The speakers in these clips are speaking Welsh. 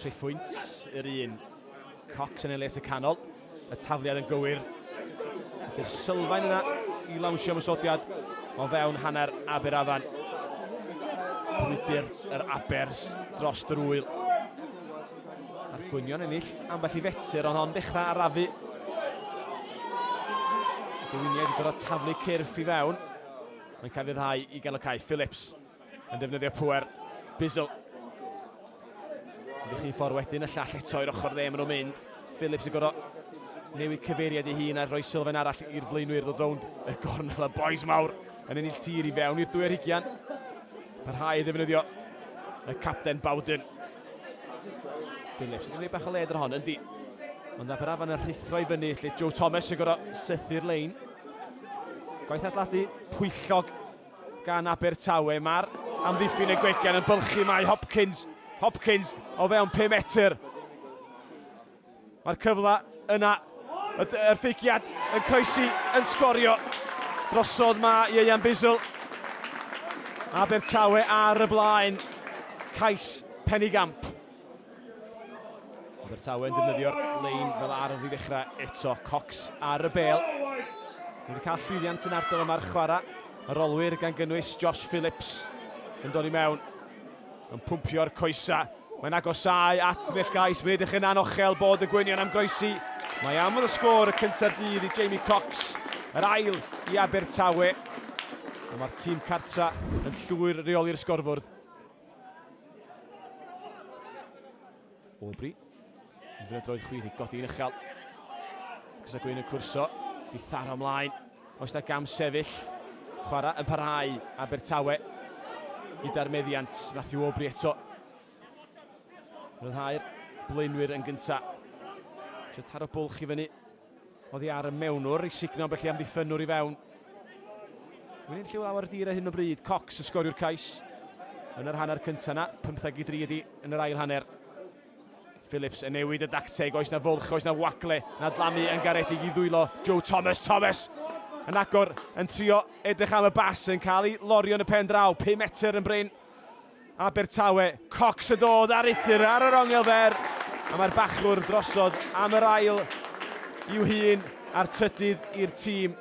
Tri phwynt yr un. Cox yn ei les y canol. Y tafliad yn gywir. Felly'r sylfaen yna i lawnsio ymwysodiad o fewn hanner Aber Afan. Bwydyr yr Abers dros yr wyl. A'r gwynion ennill ambell i fetur ond hon dechrau arafu. Dywiniaid i gorau taflu cyrff i fewn. Mae'n cael ei ddau i gael y cae. Phillips Yn defnyddio pŵer Bizzle. Ymdrechu i ffordd wedyn, y llall eto i'r ochr dde, maen nhw'n mynd. Phillips yn gorau newid cyfeiriad ei hun a rhoi sylfaen arall i'r blaenwyr ddod rownd y gornel. Y boes mawr yn ennill tir i fewn i'r dwy ar hugian. Parhau i ddefnyddio y capten Bowden. Phillips yn gwneud bach o led ar hon, yndi. Ond na Barafan yn rhithro i fyny lle Joe Thomas yn gorau sythu'r lein. Gwaith atladu pwyllog gan Abertawe. Mae'r amddiffyn y gwegen yn bylchu, mae Hopkins, Hopkins o fewn 5 metr. Mae'r cyfle yna, y ffeigiad yn croesi yn sgorio drosodd mae Ieuan Bizzle. Abertawe ar y blaen, cais Penigamp. Abertawe yn defnyddio'r lein fel ardd i ddechrau eto. Cox ar y bel. Mae wedi cael llwyddiant yn ardal yma'r chwarae. Yr olwyr gan gynnwys Josh Phillips yn dod i mewn. Yn pwmpio'r coesa. Mae'n agosau at Nill Gais. Mae'n edrych yn anochel bod y gwynion am groesi. Mae am fod y sgôr y cyntaf dydd i Jamie Cox. Yr ail i Abertawe. Mae'r tîm cartra yn llwyr reoli'r sgorfwrdd. Aubrey. Yn fynd droed chwith i godi yn uchel. Gysa Gwyn yn cwrso. I tharo ymlaen. Oes da gam sefyll. Chwarae yn parhau. Abertawe. Gyda'r meddiant. Matthew Aubrey eto. Rhyddhau'r blaenwyr yn gynta. Sio taro bwlch i fyny. Oddi ar y mewnwr i sugno ambell i amddiffynnwr i fewn. Wy'n lliw lawer dir ar hyn o bryd, Cox y sgoriwr cais yn yr hanner cyntaf yna, 15 i 3 ydi yn yr ail hanner. Phillips yn newid y dacteg, oes na fwlch, oes na wagle, na dlamu yn garedig i ddwylo Joe Thomas. Thomas yn agor, yn trio edrych am y bas, yn cael ei lorio yn y pen draw, 5 metr yn brin. Abertawe. Cox a dod ar uthr ar yr ongl fer a mae'r bachwr drosodd am yr ail i'w hun a'r trydydd i'r tîm.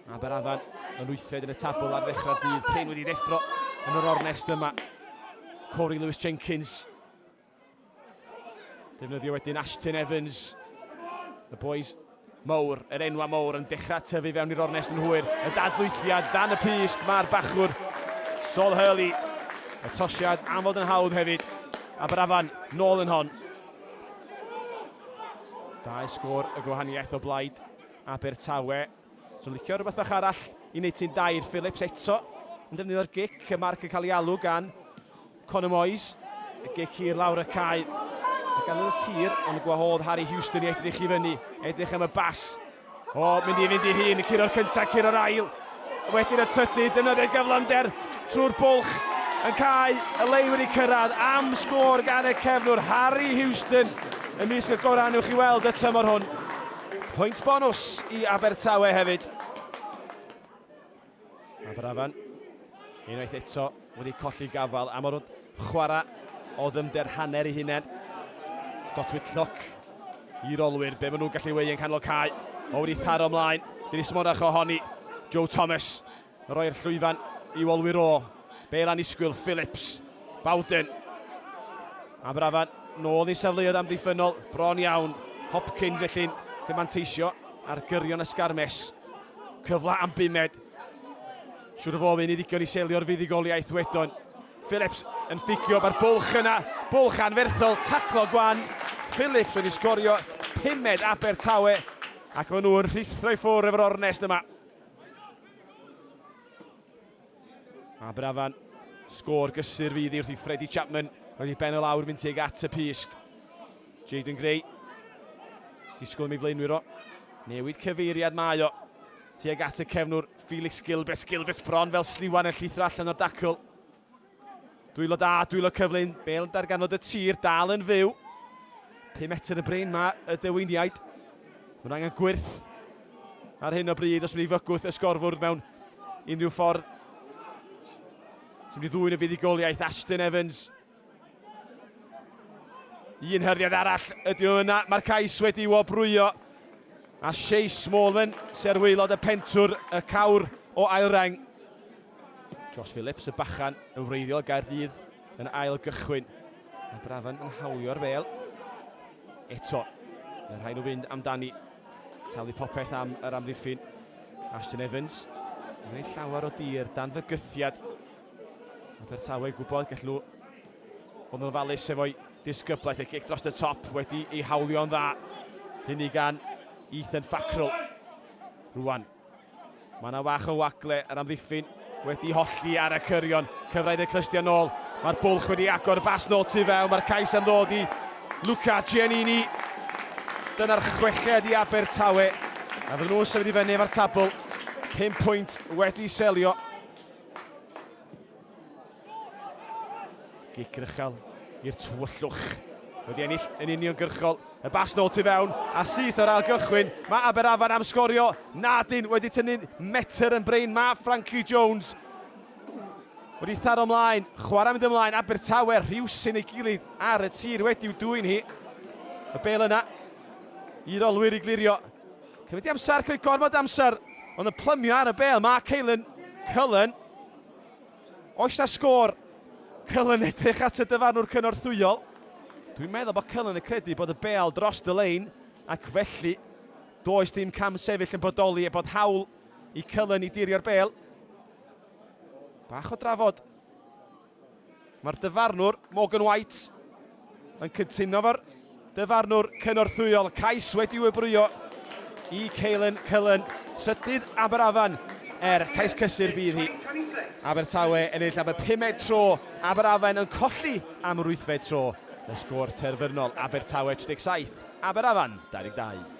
Aberafan yn wythfed yn y tabl ar ddechrau'r dydd cyn wedi ddeffro yn yr ornest yma. Corey Lewis Jenkins Defnyddio wedyn Ashton Evans. Y boys mowr, yr enwa mowr yn dechrau tyfu fewn i'r ornest yn hwyr. Y dadlwythiad dan y pyst, mae'r bachwr Sol Hurley. Y tosiad am fod yn hawdd hefyd. Aberafan, nôl yn hon. Dau sgôr y gwahaniaeth o blaid Abertawe. Swn licio rhywbeth bach arall i wneud ti'n dair, Phillips eto yn defnyddio'r gic, y marc yn cael ei alw gan Conor Moyes. Y gic hir lawr y cae, y ganol y tir, ond y gwahodd Harry Houston i edrych i fyny, edrych am y bas. O, mynd i fynd i hun, y curo'r cyntaf, curo'r ail, wedyn y trydydd, defnyddio'r gyflamder trwy'r bwlch yn cael y lei wedi cyrraedd am sgôr gan y cefnwr Harry Houston y mis y gorau i weld y tymor hwn. Pwynt bonws i Abertawe hefyd. Aberafan, unwaith eto, wedi colli gafael am o'r chwarae o ddymder hanner i hunain. Gotwyd lloc i'r olwyr, be maen nhw'n gallu wei yn canol cae. O wedi tharo ymlaen, dyn ni smonach ohoni, Joe Thomas. Rhoi'r llwyfan i ôl Wyro. Bale annisgwyl, Phillips, Bowden. Aberafan nôl i safleoedd amddiffynnol, bron iawn. Hopkins felly'n gallu manteisio ar gyrion ysgarmes. Cyfle am bumed. Siwr o fod yn ddigon i selio'r fuddugoliaeth wedon. Phillips yn ffugio mae'r bwlch yna, bwlch anferthol, taclo gwan. Phillips wedi sgorio pumed Abertawe ac maen nhw'n rhithro i ffwrdd efo'r ornest yma. Aberafan, sgôr gysur fydd i wrth i Freddie Chapman roedd i ben o lawr mynd tuag at y pyst. Jaden Gray, disgwyl am ei flaenwyr o, newid cyfeiriad mae o, tuag at y cefnwr Felix Gilbert, Gilbert bron fel sliwan yn llithro allan o'r dacl. Dwylo da, dwylo cyflyn, bel yn darganfod y tir, dal yn fyw. 5 metr y brain mae y dewyniaid. Mae'n angen gwyrth ar hyn o bryd os wedi fygwth y sgorfwrdd mewn unrhyw ffordd. Sy'n mynd i ddwy'n y fuddugoliaeth, Ashton Evans. Un hyrdiad arall ydy nhw yna, mae'r cais wedi i wobrwyo. A Shea Smallman, serwylod y pentwr, y cawr o ail reng. Josh Phillips, y bachan yn wreiddiol Gaerdydd yn ail gychwyn. Mae Brafan yn hawlio'r fel. Eto, mae rhaid nhw fynd amdani. Talu popeth am yr amddiffyn. Ashton Evans, yn ei llawer o dir dan fygythiad. Mae Bertawe gwybod gallu nhw fod yn ofalus efo'i disgyblaeth ei gic dros y top wedi ei hawlio'n dda. Hynny gan Ethan Fackrell. Rwan, Mae yna fach o wagle yr amddiffyn wedi hollti ar y cyrion. Cyfraith y clystio nôl. Mae'r bwlch wedi agor y bas nôl tu fewn. Mae'r cais am ddod i Luca Giannini. Dyna'r chweched i Abertawe. A fydden nhw'n symud i fyny efo'r tabl. 5 pwynt wedi selio. Gic rychel i'r tywyllwch. Wedi ennill yn uniongyrchol. Y bas nôl tu fewn a syth o'r ail gychwyn. Mae Aberafan am sgorio. Nadyn wedi tynnu'n metr yn brain. Mae Frankie Jones wedi tharo ymlaen. Chwarae mynd ymlaen. Abertawe rhywsyn ei gilydd ar y tir wedi'w dwy'n hi. Y bel yna i'r olwyr i glirio. Cymryd i amser, cymryd gormod amser. Ond y plymio ar y bel. Mae Caelan Cullen Oes na sgôr? Cullen edrych at y dyfarnwr cynorthwyol. Dwi'n meddwl bod Cullen yn credu bod y bêl dros y lein ac felly does dim cam sefyll yn bodoli a bod hawl i Cullen i dirio'r bêl. Bach o drafod. Mae'r dyfarnwr, Morgan White, yn cytuno efo'r dyfarnwr cynorthwyol. Cais wedi wybrwyo i Caelan Cullen, trydydd Aberafan, er cais cysur bydd hi. Abertawe ennill am y pumed tro, Aberafen yn colli am yr wythfed tro. Y sgôr terfynol, Abertawe 37, Aberafan 22.